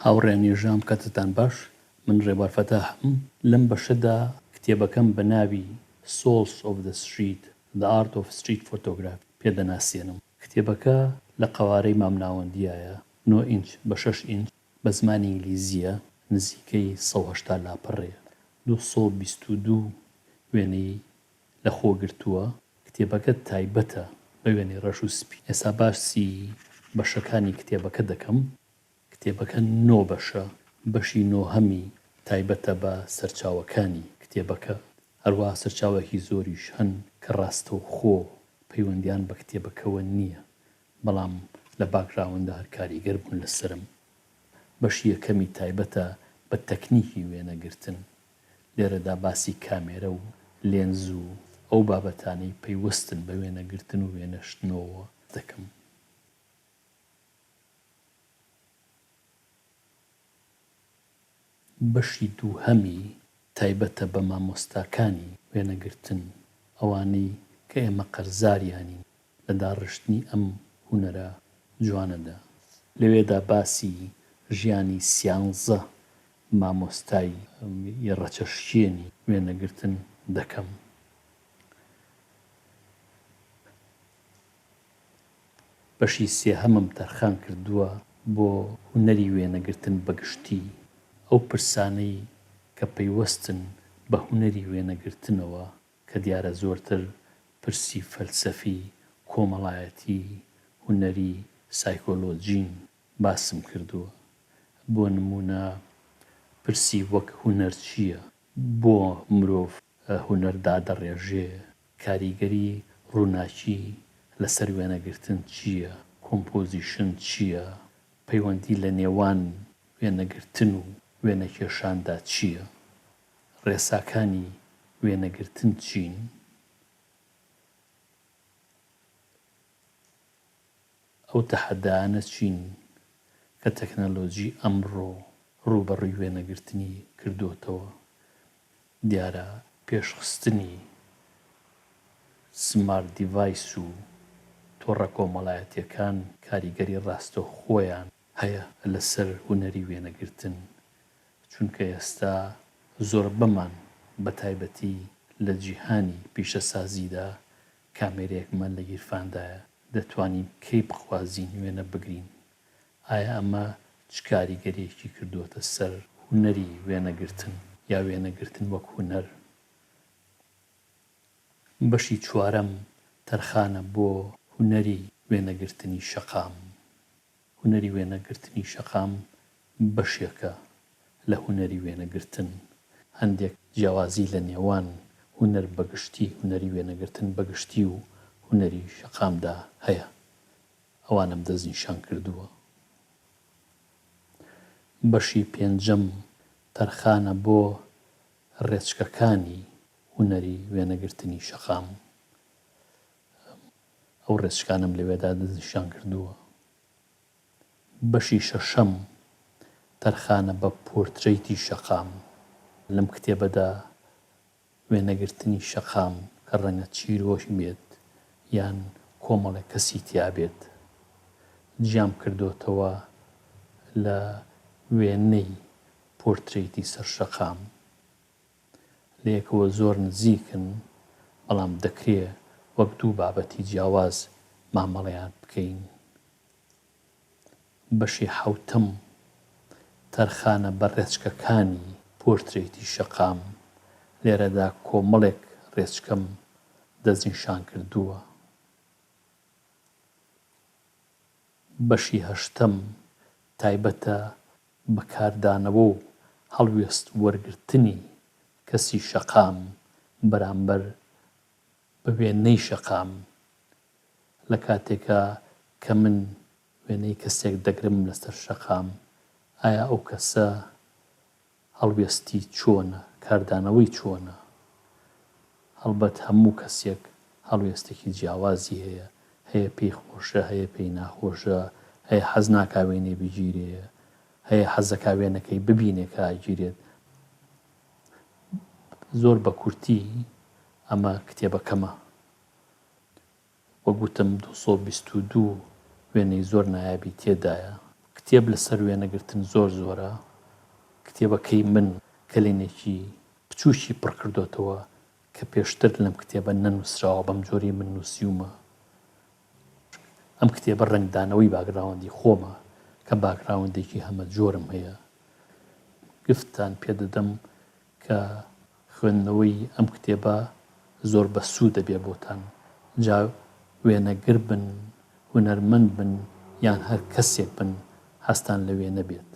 هاوڕێیان یژدام کەتتان باش من ڕێبوار فەتاحم لەم بەشەدا کتێبەکەم بە ناوی Souls of the Street، The Art of Street Photography پێ دەناسێنم کتێبەکە لە قەوارەی مام ناوەندیایە نۆ ئینچ بە شەش ئینچ بە زمانی ئینگلیزیە نزیکەی سەد و هەشتا لاپەڕەیە دوو سەد و بیست و دوو وێنەی لەخۆگرتووە، کتێبەکە تایبەتە بە وێنەی ڕەش و سپی. ئێستا باسی بەشەکانی کتێبەکە دەکەم. کتێبەکە نۆ بەشە، بەشی نۆهەمی تایبەتە بە سەرچاوەکانی کتێبەکە، هەروەها سەرچاوەکی زۆریش هەن کە ڕاستەوخۆ پەیوەندیان بە کتێبەکەوە نییە، بەڵام لە باکگراونددا هەر کاریگەر بوون لەسەرم. بەشی یەکەمی تایبەتە بە تەکنیکی وێنەگرتن، لێرەدا باسی کامێرە و لێنز و ئەو بابەتانەی پەیوەستن بە وێنەگرتن و وێنەشتنەوە دەکەم. بەشی دووهەمی تایبەتە بە مامۆستاکانی وێنەگرتن، ئەوانەی کە ئێمە قەرزاریانین لە داڕشتنی ئەم هونەرە جوانەدا. لەوێدا باسی ژیانی سیانزە مامۆستای ی ڕەچەشکێنی وێنەگرتن دەکەم. بەشی سێهەمم تەرخان کردووە بۆ هونەری وێنەگرتن بە گشتی، ئەو پرسانەی کە پەیوەستن بە هونەری وێنەگرتنەوە، کە دیارە زۆرتر پرسی فەلسەفی، کۆمەڵایەتی، هونەری، سایکۆلۆجین، باسم کردووە. بۆ نموونە پرسی وەک هونەر چییە؟ بۆ مرۆڤ هونەر دادەڕێژێ؟ کاریگەری ڕووناکی لەسەر وێنەگرتن چییە؟ کۆمپۆزیشن چییە؟ پەیوەندی لە نێوان وێنەگرتن و وێنەکێشاندا چییە؟ ڕێساکانی وێنەگرتن چین؟ ئەو تەحەدایانە چین کە تەکنەلۆجی ئەمڕۆ ڕووبەڕووی وێنەگرتنی کردۆتەوە؟ دیارە پێشخستنی سمارت دیڤایس و تۆڕە کۆمەڵایەتییەکان کاریگەری ڕاستەوخۆیان هەیە لەسەر هونەری وێنەگرتن، چونکە ئێستا زۆربەمان بە تایبەتی لە جیهانی پیشەسازیدا کامێرەیەکمان لە گیرفاندایە، دەتوانین کەی بخوازین وێنە بگرین، ئایا ئەمە چ کاریگەرییەکی کردووەتە سەر هونەری وێنەگرتن یا وێنەگرتن وەک هونەر؟ بەشی چوارەم تەرخانە بۆ هونەری وێنەگرتنی شەقام. هونەری وێنەگرتنی شەقام بەشێکە لە هونەری وێنەگرتن. هەندێک جیاوازی لە نێوان هونەر بە گشتی، هونەری وێنەگرتن بە گشتی و هونەری شەقامدا هەیە. ئەوانەم دەستنیشان کردووە. بەشی پێنجەم تەرخانە بۆ ڕێچکەکانی هونەری وێنەگرتنی شەقام. ئەو ڕێچکانەم لەوێدا دەستنیشان کردووە. بەشی شەشەم، تەرخانە بە پۆرترەیتی شەقام، لەم کتێبەدا وێنەگرتنی شەقام کە ڕەنگە چیرۆک بێت یان کۆمەڵێک کەسی تیا بێت، جیام کردۆتەوە لە وێنەی پۆرترەیتی سەر شەقام. لەیەکەوە زۆر نزیکن، بەڵام دەکرێ وەک دوو بابەتی جیاواز مامەڵەیان بکەین. بەشی حەوتەم، تەرخانە بە ڕێچکەکانی پۆرترەیتی شەقام، لێرەدا کۆمەڵێک ڕێچکەم دەستنیشانکردووە. بەشی هەشتەم تایبەتە بە کاردانەوە و هەڵوێست وەرگرتنی کەسی شەقام بەرامبەر بە وێنەی شەقام لە کاتێکا کە من وێنەی کەسێک دەگرم لەسەر شەقام ئایا ئەو کەسە هەڵوێستی چۆنە، کاردانەوەی چۆنە؟ هەڵبەت هەموو کەسێک هەڵوێستێکی جیاوازی هەیە، هەیە پێی خۆشە، هەیە پێی ناخۆشە، هەیە حەز ناکا وێنەی بگیرێ، هەیە حەز دەکا وێنەکەی ببینێ کە ئەگیرێت. زۆر بە کورتی ئەمە کتێبەکەمە. وەک وتم دوو سەد و بیست و دوو وێنەی زۆر نایابی تێدایە. کتێب لەسەر وێنەگرتن زۆر زۆرە. کتێبەکەی من کەلێنێکی بچووکی پڕ کردۆتەوە کە پێشتر لەم کتێبە نەنووسراوە بەم جۆرەی من نووسیومە. ئەم کتێبە ڕەنگدانەوەی باگراوندی خۆمە کە باگراوندێکی هەمە جۆرم هەیە. گفتتان پێ دەدەم کە خوێندنەوەی ئەم کتێبە زۆر بە سوود دەبێ بۆتان جا وێنەگر بن هونەرمەند بن یان هەر کەسێک بن هەستان لە وێنە بێت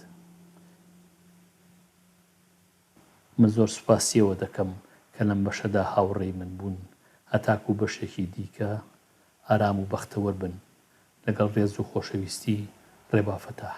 من زۆر سوپاسیەوە دەکەم کە لەم بەشەدا هاوڕێی من بوون هەتاکو بەشێکی دیکە ئارام و بەختەوەر بن لەگەڵ ڕێز و خۆشەویستی ڕێبا فەتاح